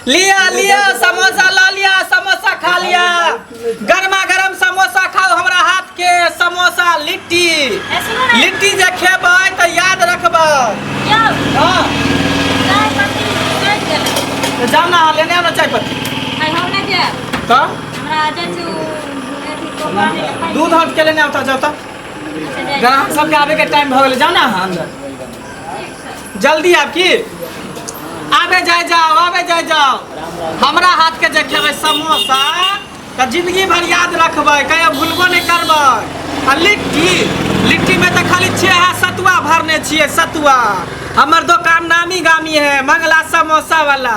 लिया लिया समोसा ला लिया समोसा खा लिया गर्मा गर्म समोसा खाओ हमरा हाथ के समोसा लिट्टी लिट्टी जे खेबै तऽ याद रखबै हाँ तऽ जाउ ने अहाँ लेने आउ ने चाय पत्ती तऽ दूध हाथ के लेने आउ तऽ जाउ तऽ ग्राहक सबके आबे के टाइम भऽ गेलै जाउ ने अहाँ अंदर जल्दी आब की आबे जाए जाओ आबे जाए जाओ हमरा हाथ के जे खेबै समोसा तऽ जिंदगी भर याद रखबै कहियो भूलबो नहीं करबै आ लिट्टी लिट्टी में तऽ खाली छियै अहाँ सतुआ भरने छियै सतुआ हमर दोकान नामी गामी है मंगला समोसा वाला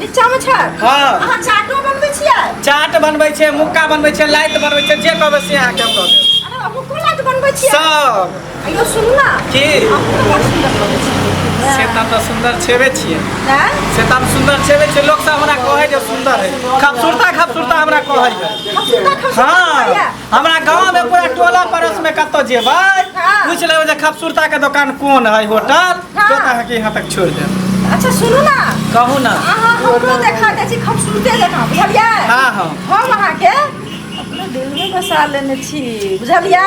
नीचामे छै हाँ अहाँ चाटो बनबै छियै चाट बनबै छै मुक्का बनबै छै लाइत बनबै छै जे कहबै से अहाँके हम दऽ देब अरे मुक्को लाइत बनबै छियै सब अयो सुनू ना की से तऽ हम सुन्दर छेबे छियै से तऽ हम सुन्दर छेबे छियै लोक सब हमरा कहै जे सुन्दर है खूबसूरता खूबसूरता हमरा कहै है हाँ हमरा गांव में पूरा टोला पड़ोस में कतो जेबै हाँ। पूछ लेबै जे खबसूरता के दुकान कोन है होटल हाँ। तो अहाँ के यहाँ तक छोड़ दे अच्छा सुनू ना कहू ना अहाँ हमरो देखा दे छी खूबसूरते जकाँ बुझलियै हाँ हाँ हम अहाँके अपने दिल में बसा लेने छी बुझलियै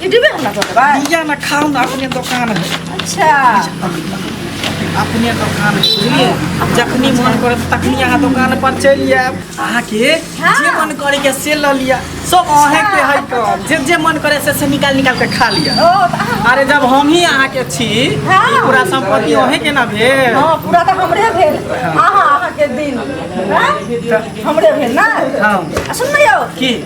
ये डिबे हम ना तो बा दिया ना खाओ ना अपने दुकान है अच्छा अपने दुकान है बुझलिए जखनी मन करे तखनी अहाँ दुकान पर चलि जायब अहाँके हाँ। जे मन करे के से लऽ लिअ सब अहें के है कम जे जे मन करे से से निकाल निकाल के खा लिअ ओ तो अहाँ अरे जब हम ही अहाँ के छी हाँ। ई पूरा संपत्ति अहें के ना भेल हाँ पूरा तो हमरे भेल अहाँ अहाँ के दिन हाँ? हमरे भेल ना हाँ आ सुन न यौ की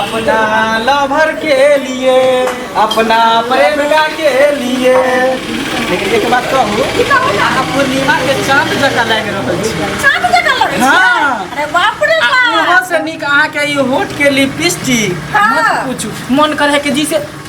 अपना लवर के लिए अपना प्रेमिका के लिए लेकिन एक बात कहू अहाँ पूर्णिमा के चाँद जकाँ लागि रहल छी चाँद जकाँ लगै छै। हाँ। अरे बाप रे आ बाप। ओहो से नीक अहाँके ई होठ के लिपस्टिक हाँ। मत पूछू मन करे है कि जी से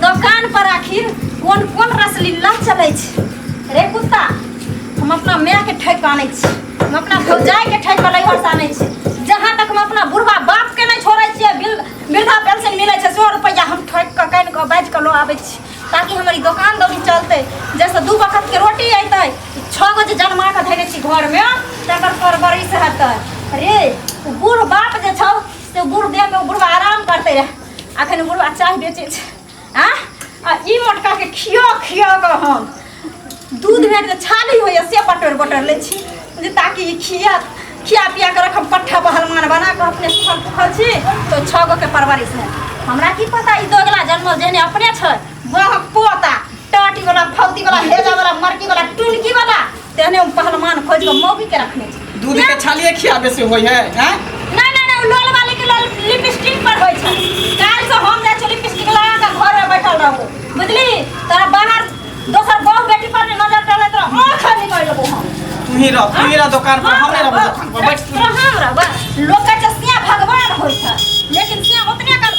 दोकान पर आखिर कोन कोन रसलीला चलै छै रे कुत्ता हम अपना माय के ठैक आनै छी हम अपना भौजाई के ठैक पर लैहर आनै छी जहाँ तक हम अपना बुढ़वा बाप के नहीं छोड़े छियै बिल वृद्धा पेंशन मिलै छै सौ रुपैआ हम ठोकि कऽ कानि कऽ बाजि कऽ लऽ आबै छी ताकि हमर ई दोकान दौरी चलतै जाहिसँ दू बखतके रोटी अयतै छओ गो जे जनमा कऽ धयने छी घरमे तकर परवरिश हेतै रे ओ बूढ़ बाप जे छौ से बूढ़ देहमे ओ बुढ़वा आराम करतै रहए अखन बुढ़वा चाय बेचै छै आ आ ई मोटका के खियो खियो के हम दूध में जे छाली होइए से बटर बटर लै छी जे ताकि ई खिया खिया पिया के रखम पट्ठा पहलमान बना के अपने सुखल पुखल छी तो छः गो के परवरिश है हमरा की पता ई दोगला जन्मल जेने अपने छै बहक पोता टाटी वाला फौती वाला हेजा वाला मरकी वाला टुनकी वाला तेहने हम पहलवान खोज के मौगी के रखने छी दूध के छालिए खियाबे से होय है हैं नहीं नहीं नहीं लोल वाली के लोल लिपस्टिक पर होय छै काल से हम जाय छी लिपस्टिक लगा के घर में बैठल रहबो बुझली तोरा बाहर दोसर बहू बेटी पर ने नजर डाले तो आंख निकाल लेबो हम तू ही रह तू ही रह दुकान पर हम नहीं रहबो दुकान पर बैठ तू। हम रहबो लोग के चसिया भगवान होय छै लेकिन सिया ओतने काल